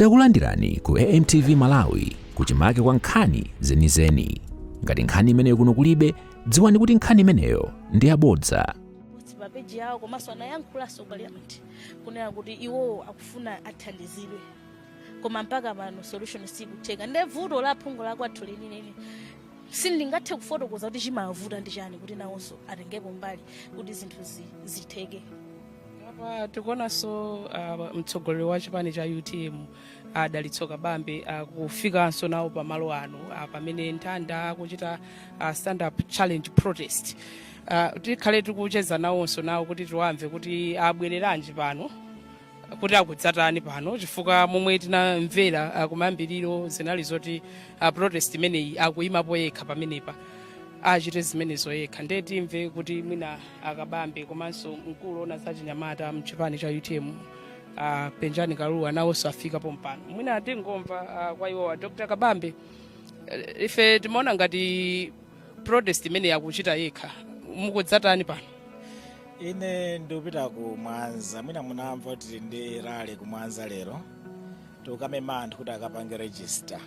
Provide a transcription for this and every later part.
Takulandirani ku AMTV Malawi kuchimake kwa nkhani zenizeni. Ngati nkhani imeneyo kuno kulibe, dziwani kuti nkhani imeneyo ndi yabodza. pa peji yawo komanso anayankhulanso parliament kunena kuti iwowo akufuna athandizidwe koma mpaka pano solution sikutheka nde vuto la phungu la kwathu lenileni sindingathe kufotokoza kuti chimawavuta ndi chani kuti nawonso atengepo mbali kuti zinthu zi- zitheke apa tikuonanso uh, mtsogoleri wa chipani cha utm adalitso kabambe akufikanso nawo pamalo ano uh, pamene nthanda akuchita uh, stand up challenge protest uh, tikhale tikucheza nawonso nawo kuti tiwamve kuti abwereranji pano kuti akudzatani pano chifukwa momwe tinamvera uh, kumayambiriro zinali zoti uh, protest imeneyi akuyimapo yekha pamenepa achite zimenezo yekha ndiye timve kuti mwina a kabambe komanso mkulu ona za chinyamata mchipani cha utm a penjani kaluwa nawonso afika pompano mwina tingomva ah, kwa iwowa dr kabambe eh, ife timaona ngati protest imeneyi akuchita yekha mukudzatani pano ine ndikupita ku mwanza mwina munamva kuti tili ndi rally ku mwanza lero tikukamema anthu kuti akapange register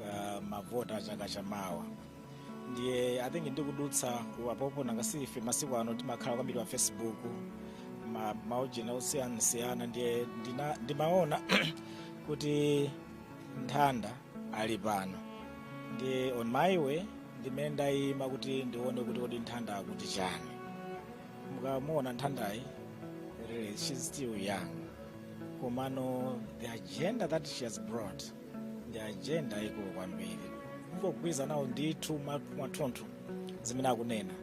uh, mavota chaka chamawa ndiye I think ndikudutsa ku apopo nangasife masiku ano timakhala kwambiri pa facebook ma- maujena osiyanasiyana ndiye ndina- ndimaona kuti nthanda ali pano ndiye on my way ndimene ndayima kuti ndione kuti kodi nthanda akuti chani mukamuona nthandayi really she's still young komano the agenda that she has brought ndi agenda ikulu kwambiri ndikugwirizana nawo ndithu mwa- mwathunthu zimene akunena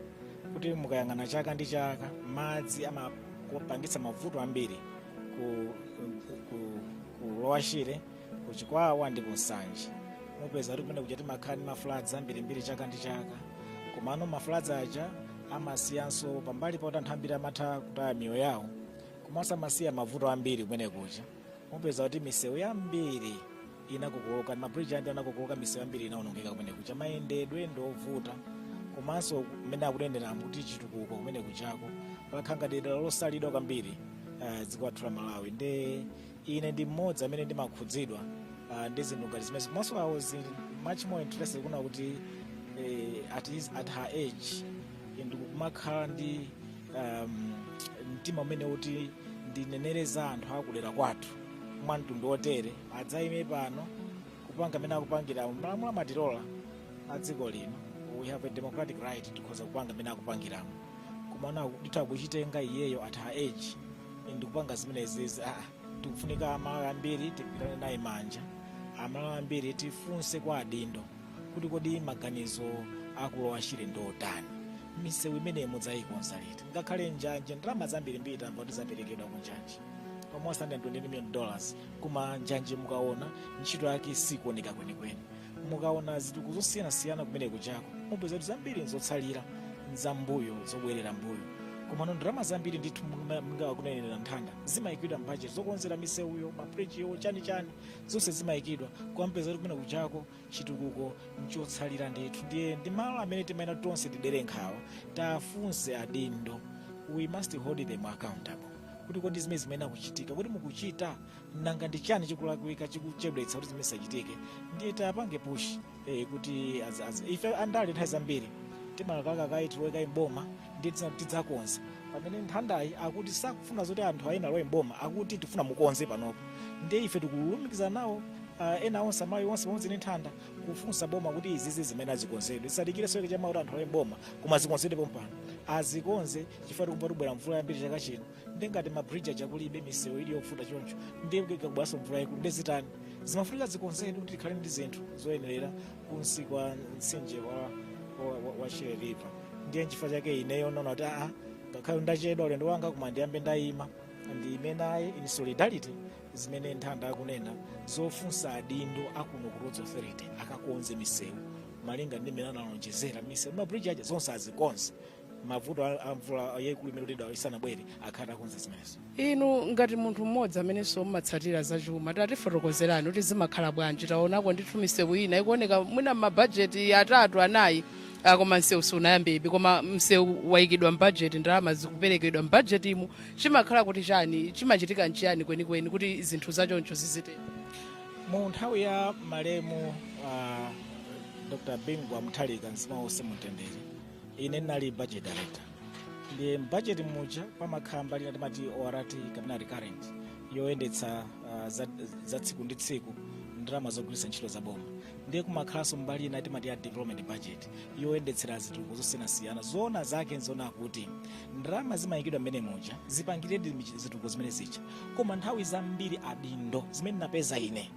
kuti mukayang'ana chaka ndi chaka madzi amapangitsa mavuto ambiri ku, ku, ku, ku lower shire ku chikwawa ndi ku nsanje mupeza kuti kumene kuja timakhala ndi mafloods ambirimbiri chaka ndi chaka komano mafloods aja amasiyanso pambali poti anthu ambiri amatha kutaya miyoyo yawo komanso amasiya mavuto ambiri kumene kuja mupeza kuti misewu yambiri inakokoloka mabridge andi anakokoloka misewu yambiri inaonongeka kumene kuja mayendedwe ndi ovuta komanso mmene akuneneramo kuti chitukuko kumene kujako pakhala ngati dera losalidwa kwambiri eh, dziko lathu la malawi nde ine ndi mmodzi amene ndimakhudzidwa ah, ndi zinthu ngati zimenezi komanso i was much more interested kuona kuti eh, at, his, at her age ndikumakhala ndi um, mtima umene uti ndinenere za anthu akudera kwathu mwa mtundu wotere adzayime pano kupanga zimene akupangiramu malamulo amatilola a dziko lino we have a democratic right tikhoza kupanga zimene akupangiramo komano ndithu kuchitenga iyeyo at her age ndikupanga zimenezi ah, tikufunika amalawi ambiri tigwirane naye manja amalawi ambiri tifunse kwa adindo kuti kodi maganizo aku Lower Shire ndi otani misewu imeneyi mudzayikonza liti ngakhale njanje ndalama zambirimbiri tamva kuti zaperekedwa ku njanje almost 120 million dollars koma njanje mukaona ntchito yake sikuoneka kwenikweni mukaona zitukuko zosiyanasiyana kumene kuchako mupeza kuti zambiri nzotsalira nzambuyo zobwerera mbuyo komano ndalama zambiri ndithu monga akunenera nthanda zimayikidwa mbajeti zokonzera misewuyo mabridgewo chani chani zonse zimayikidwa koma mupeza kuti kumene kuchako chitukuko nchotsalira ndithu ndiye ndi malo amene timayenera tonse tidere nkhawa tafunse adindo we must hold them accountable kuti kodi zimene zimayenera kuchitika kodi mukuchita nanga ndi chani chikulakwika chikuchedwetsa kuti zimene zisachitike ndiye tapange push eh, kuti as, as, ife andale nthawi zambiri timalakalaka kaye tilowe kaye mboma ndiye tidzakonza pamene nthandayi akuti sakufuna zoti anthu ena alowe mboma akuti tifuna mukonze panopo ndiye ife tikulumikiza nawo uh, ena onse amayi onse pamodzi ndi nthanda kufunsa boma kuti izizi zimene azikonzedwe zisadikire so yekechama kuti anthu alowe mboma koma zikonzedwe pompano azikonze chifukwa tikumva kubwera mvula yambiri chaka chino ndiye ngati mabridge aja kulibe misewu ili yofuta choncho ndiye kukabweraso mvula yaikulu nde zitani zimafunika zikonzedwe kuti tikhale ndi zinthu zoyenerera kunsi kwa mtsinje wa, wa, wa, wa Shire River ndiye nchifukwa chake ineyo ndaona kuti aa ngakhale ndachedwa ulendo wanga koma ndiyambe ndayima ndiyime naye in solidarity zimene nthanda akunena zofunsa adindo akuno ku roads authority akakonze misewu malinga ndi mmene analonjezera misewu mabridge aja zonse azikonze mavuto a a mvula yaikulu imeneyi kuti isanabwere akhale atakonza zimenezo inu ngati munthu mmodzi amenenso mmatsatira zachuma tatifotokozerani kuti zimakhala bwanji taonako ndithu misewu ina ikuoneka mwina mmabajeti atatu anayi ah, koma msewu sunayambebe koma msewu wayikidwa mbajeti ndalama zikuperekedwa mbajetimu chimakhala kuti chani chimachitika nchiyani kwenikweni kuti zinthu zachoncho zizitera mu nthawi ya malemu uh, dr bingwa muthalika mzimu wawo uuse mumtendere ine ndinali budget director ndiye mbudget muja pamakhala mbali ina timati ORT kapena recurrent yoyendetsa uh, za, za tsiku ndi tsiku ndalama zogwiritsa ntchito za boma ndiye kumakhalanso mbali ina timati ya development budget yoyendetsera zitukuko zosiyanasiyana zoona zake nzoona kuti ndalama zimayikidwa mmenemuja zipangiredi michi- zitukuko zimene zija koma nthawi zambiri adindo zimene ndapeza ine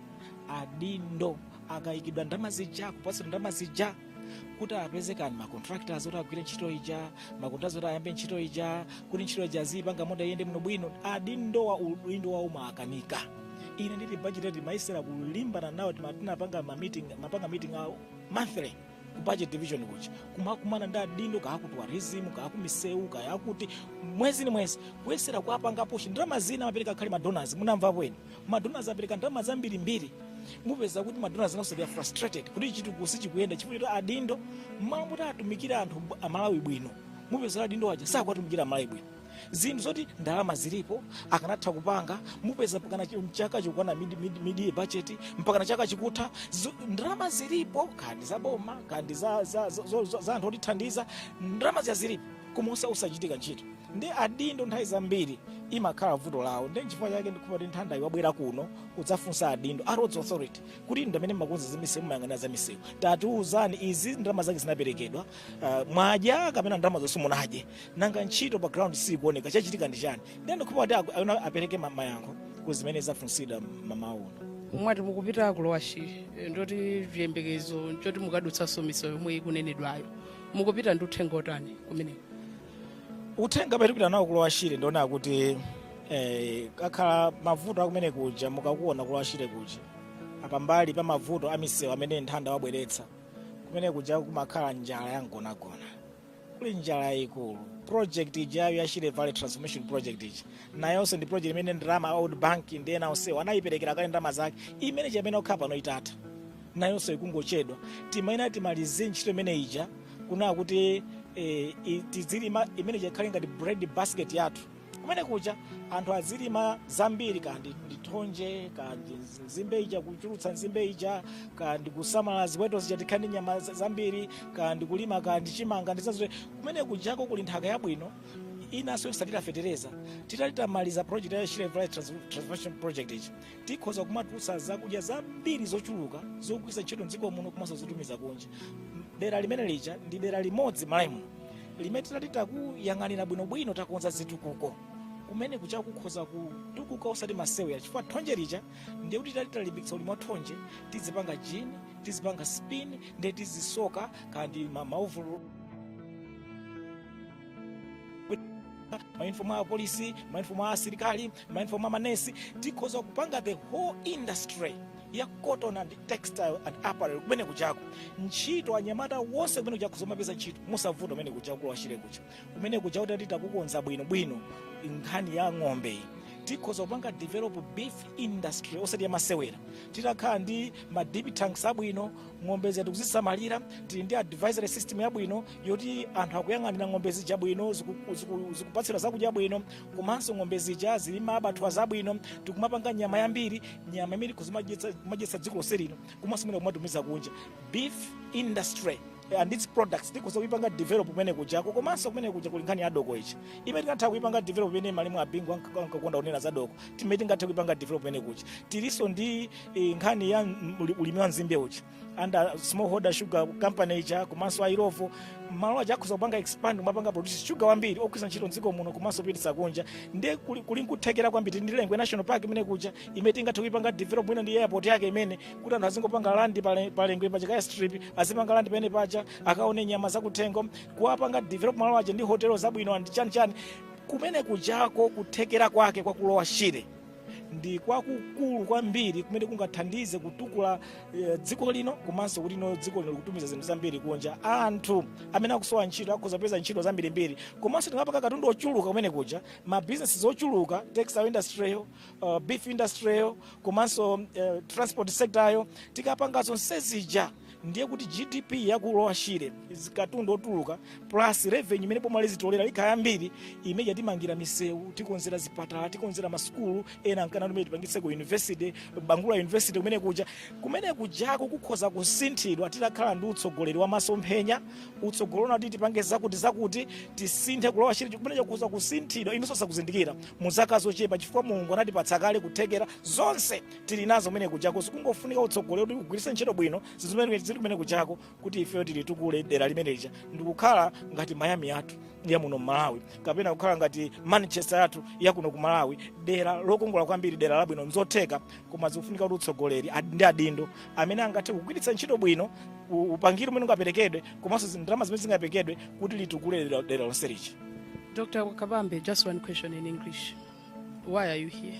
adindo akayikidwa ndalama zija kupatsidwa ndalama zija kuti apeze kani macontractors oti agwire ntchito ija macontractors oti ayambe ntchito ija kuti ntchito ija izipanga kuti iyende muno bwino adindo aja udindo wawo umawakanika ine ndili ku budget timayesera kulimbana nawo tima- tinapanga ma meeting mapanga meeting a monthly ku budget division kuja kumakumana ndi adindo kaya aku tourism kaya aku misewu kaya akuti mwezi ni mwezi kuyesera kuwapanga push ndalama zina amapereka kale madonors munamvapo eni Madonors apereka ndalama zambirimbiri mupeza kuti madonors nawonso they are frustrated kuti chitukuko sichikuyenda chifukwa choti adindo mmalo moti atumikire anthu b- amalawi bwino mupeza kuti adindo aja sakuwatumikira amalawi bwino zinthu zoti ndalama zilipo akanatha kupanga mupeza mpakana chi- mchaka chikukwana mid, mid, mid budget mpakana chaka chikutha zo- ndalama zilipo kaya ndi za boma kaya ndi za, za, za, za, za anthu otithandiza ndalama zija zilipo koma osa- osachitika ntchito ndi adindo nthawi zambiri imakhala vuto lawo ndi nchifukwa chake ndikhulupira kuti Nthandayi wabwera kuno kudzafunsa adindo a roads authority kuti ndi amene mumakonza zamisewu mumayang'anira zamisewu tatiuzani izi ndalama zake zinaperekedwa ah, mwadya kapena ndalama zonse munadye nanga ntchito pa ground sikuoneka chachitika ndi chani ndi ndikhulupira kuti aku- ayenera apereke ma- mayankho ku zimene zafunsidwa mmawa uno mwati mukupita ku Lower Shire ndoti chiyembekezo nchoti mukadutsanso misewu yomwe ikunenedwayo mukupita ndi uthenga otani kumeneko uthenga umene tikupita nawo ku Lower Shire ndi wonena kuti eh, akakhala mavuto a kumene kuja mukakuona ku Lower Shire kuja pambali pa mavuto a misewu amene Nthanda wabweretsa kumene kuja kumakhala njala ya mgonagona kuli njala yayikulu project ijayo ya Shire Valley Transformation Project ija nayonso ndi project imene ndalama a World Bank ndi ena onsewo anayiperekera kale ndalama zake imene imayenera kukhala pano itatha nayonso ikungochedwa timayenera timalize ntchito imene ija kunena kuti eh, i- tizilima imene ija ikhale ngati bread basket yathu kumene kuja anthu azilima zambiri kaya ndi ndi thonje kaya ndi nzi- nzimbe ija kuchulutsa nzimbe ija kaya ndi kusamala ziweto zija tikhale ndi nyama za- zambiri kaya ndi kulima kaya ndi chimanga ndi zazotere kumene kujako kuli nthaka yabwino inanso yosathira fetereza titati tamaliza project ya Shire Valley Trans- transformation project ija tikhoza kumatulutsa zakudya zambiri zochuluka zogwiritsa ntchito mdziko muno komanso zotumiza kunja dera limene lija ndi dera limodzi mMalawi muno limene titati takuyang'anira bwinobwino takonza zitukuko kumene kuja kukhoza kutukuka osati masewera chifukwa thonje lija ndiye kuti titati talimbikitsa ulimi wa thonje tizipanga gin tizipanga spin ndiye tizisoka kaya ndi mauvulu maunifomu a apolisi maunifomu a asilikali maunifomu a manesi tikhoza kupanga the whole industry ya cotton and textile and apparel kumene kujako ntchito anyamata onse kumene kujako zomapeza ntchito mosavuta kumene kuja ku lower shire kuja kumene kujako titakukonza bwino bwino nkhani ya ng'ombe iyi tikhoza kupanga develop beef industry osati yamasewera titakhala ndi ma dip tanks abwino ng'ombe zetu kuzisamalira tili ndi advisory system yabwino yoti anthu akuyang'anira ng'ombe zija bwino ziku- ziku- zikupatsidwa zakudya bwino komanso ng'ombe zija zili ma abattoirs abwino tikumapanga nyama yambiri nyama imene kuzimadyetsa kumadyetsa dziko lonse lino komanso mwina kumatumiza kunja beef industry and its products tikhoza kuipanga develop kumene kujako komanso kumene kuja kuli nkhani ya doko ija imene tingatha kuipanga develop imene malemu a bingu anka- ankakonda kunena za doko imene tingatha kuipanga develop kumene kuja tilinso ndi eh, nkhani ya mm, uli- ulimi wa nzimbe uja under smallholder sugar company ija komanso a illovo malo aja akhoza kupanga expand kumapanga produce sugar wambiri ogwiritsa ntchito mdziko muno komanso kupititsa kunja ndiye kuli kuli nkuthekera kwambiri ndi lengwe national park imene kuja imene tingathe kuipanga develop mwina ndi airport yake imene kuti anthu azingopanga land pale- pa lengwe paja ka airstrip azipanga land pene paja akaone nyama zakuthengo kuwapanga develop malo aja ndi hotelo zabwino and chani chani kumene kujako kuthekera kwake kwa ku lower shire ndi kwakukulu kwambiri kumene kungathandize kutukula eh, dziko lino komanso kuti no dziko lino likutumiza zinthu zambiri kunja anthu amene akusowa ntchito akhoza kupeza ntchito zambirimbiri komanso tingapanga katundu ochuluka kumene kuja ma businesses ochuluka textile industry yo uh, beef industry yo komanso eh, transport sector yo tikapanga zonse zija ndiye kuti gdp ya ku lower shire katundu otuluka plus revenue imene boma lizitolera ikhala yambiri imeneyo timangira misewu tikonzera zipatala tikonzera masukulu ena ankanena tumene tipangitseko university bangula university kumene kuja kumene kujako kukhoza kusinthidwa titakhala ndi utsogoleri wa masomphenya utsogoleri unati tipange zakuti zakuti tisinthe ku lower shire kumene kuja kukhoza kusinthidwa inunso osakuzindikira mu zaka zochepa chifukwa mulungu anatipatsa kale kuthekera zonse tili nazo kumene kujako zikungofunika utsogoleri kuti ugwiritse ntchito bwino zinthu zimene zili kumene kujako kuti ifeyo tilitukule dera limene lija ndikukhala ngati miami yathu ya muno mmalawi kapena kukhala ngati manchester yathu ya kuno ku malawi dera lokongola kwambiri dera labwino nzotheka koma zikufunika kuti utsogoleri ad- ndi adindo amene angathe kugwiritsa ntchito bwino u- upangiri umene ungaperekedwe komanso zi- ndalama zimene zingaperekedwe kuti litukule dera- dera lonse lija Dr. Kabambe, just one question in English. Why are you here?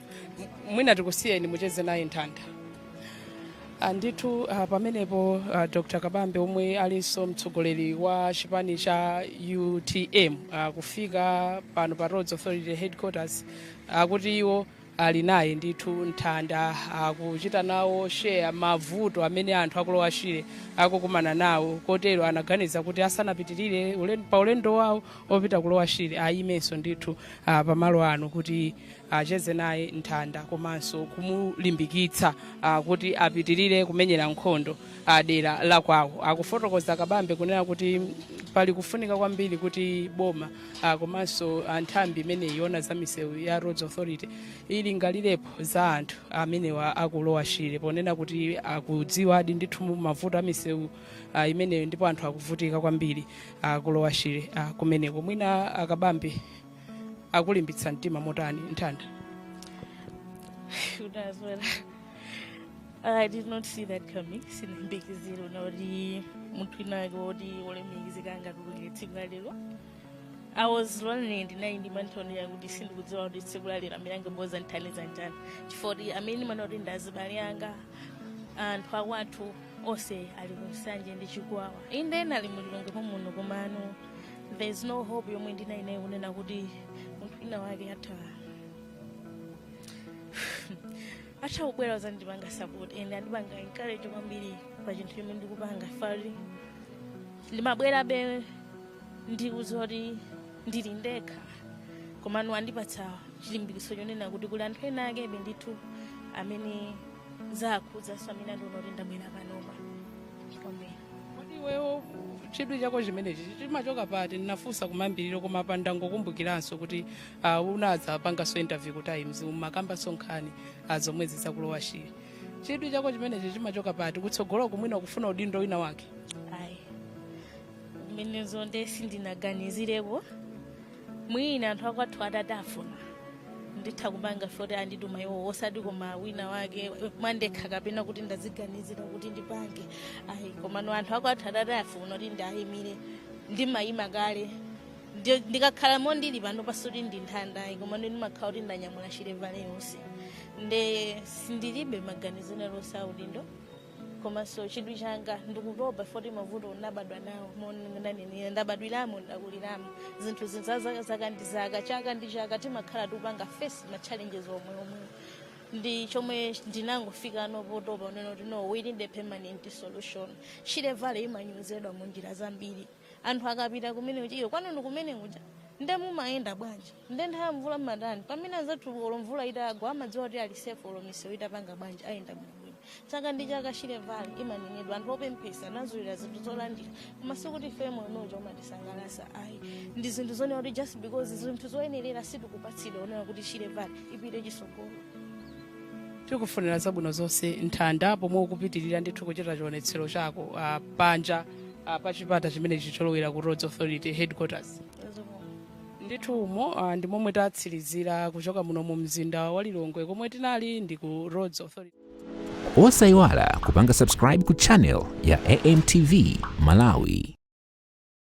mwina tikusiyeni mucheze naye nthanda Ah, ndithu ah, pamenepo ah, dr kabambe omwe alinso mtsogoleri wa chipani cha utm ah, kufika pano pa roads authority headquarters akuti iwo ali naye ndithu nthanda akuchita nawo share mavuto amene anthu aku lower shire akukumana nawo kotero anaganiza kuti asanapitirire ulen- pa ulendo wawo opita ku lower shire ayimenso ndithu ah, pamalo ano kuti acheze naye nthanda komanso kumulimbikitsa ah, kuti apitirire kumenyera nkhondo ah, dera la kwawo akufotokoza kabambe kunena kuti pali kufunika kwambiri kuti boma ah, komanso ah, nthambi imene iona za misewu ya roads authority ilingalirepo za anthu amenewa aku lower shire ponena kuti akudziwadi ndithu mavuto a misewu ah, imeneyo ndipo anthu akuvutika kwambiri aku lower shire ah, kumeneko mwina akabambe akulimbitsa mtima motani nthanda Should as well. I did not see that coming. Sindimayembekezera unoti munthu winawake woti wolemekezeka angatuluke tsiku la lero. I was lonely ndinali ndi mantha onena kuti sindikudziwa kuti tsiku la lero amene angabwere uzandithandiza ndani. Chifukwa choti amene ndimaona kuti ndi azibale anga anthu akwathu onse ali ku nsanje ndi chikwawa. Inde ena ali mu lilongwe muno komano there is no hope yomwe ndinali nayo kunena kuti munthu wina wake atha atha kubwera uzandipanga support and andipanga encourage kwambiri pa chinthu chomwe ndikupanga foti ndimabwerabe ndikudziwa kuti ndili ndekha komano andipatsa chilimbikitso chonena kuti kuli anthu ena akebe ndithu amene zakhudzaso amene andiona kuti ndabwera panopa kwambiri kodi iwewo chidwi chako chimenechi chimachoka pati ndinafunsa kumayambiriro koma apa ndangokumbukiranso kuti ah, unadzapangaso interview ku times umakambanso nkhani ah, zomwezi za ku lower shire chidwi chako chimenechi chimachoka pati kutsogoloku mwina ukufuna udindo wina wake ayi zimenezo nde sindinaganizirepo mwina anthu akwathu atati afuna nditha kupanga foti andituma iwo osati koma wina wake mwandekha kapena kuti ndaziganizira kuti ndipange ayi komano anthu akwathu atati afuna kuti ndiwayimire ndimayima kale Ndi- ndikakhala mondili panopa sikuti ndi nthanda ayi komano ndimakhala kuti ndanyamula shire valley yonse nde sindilibe maganizo ena aliwonse a udindo komanso chidwi changa ndikutopa foti mavuto ndabadwa nawo monanenera ndabadwiramo ndakuliramo zinthuzi nza zaka zaka ndi zaka chaka ndi chaka timakhala tikupanga face ma challenges omweomwewo ndi chomwe ndinangofika nawo potopa unena kuti no we need a permanent solution shire valley imanyozedwa mu njira zambiri anthu akapita kumene kuja iyo kwanu ndi kumene kuja nde mumayenda bwanji nde nthawi ya mvula mmatani pamene anzathu olo mvula itagwa amadziwa kuti ali safe olo misewu itapanga bwanji ayenda bwinobwino chaka ndi chaka shire valley imanenedwa anthu opemphesa anazolowera zinthu zolandira koma sikuti ife moyo umene uja umatisangalatsa ayi ndi zinthu zonena kuti just because zinthu zoyenerera sitikupatsidwa onena kuti shire valley ipite chisogolo tikufunira zabwino zonse nthanda pomwe ukupitirira ndithu kuchita chionetsero chako uh, panja uh, pa chipata chimenechi cholowera ku roads authority headquarters ndithu umo uh, ndi momwe tatsirizira kuchoka muno mu mzinda wa lilongwe komwe tinali ndi ku roads authority osayiwala kupanga subscribe ku channel ya amtv malawi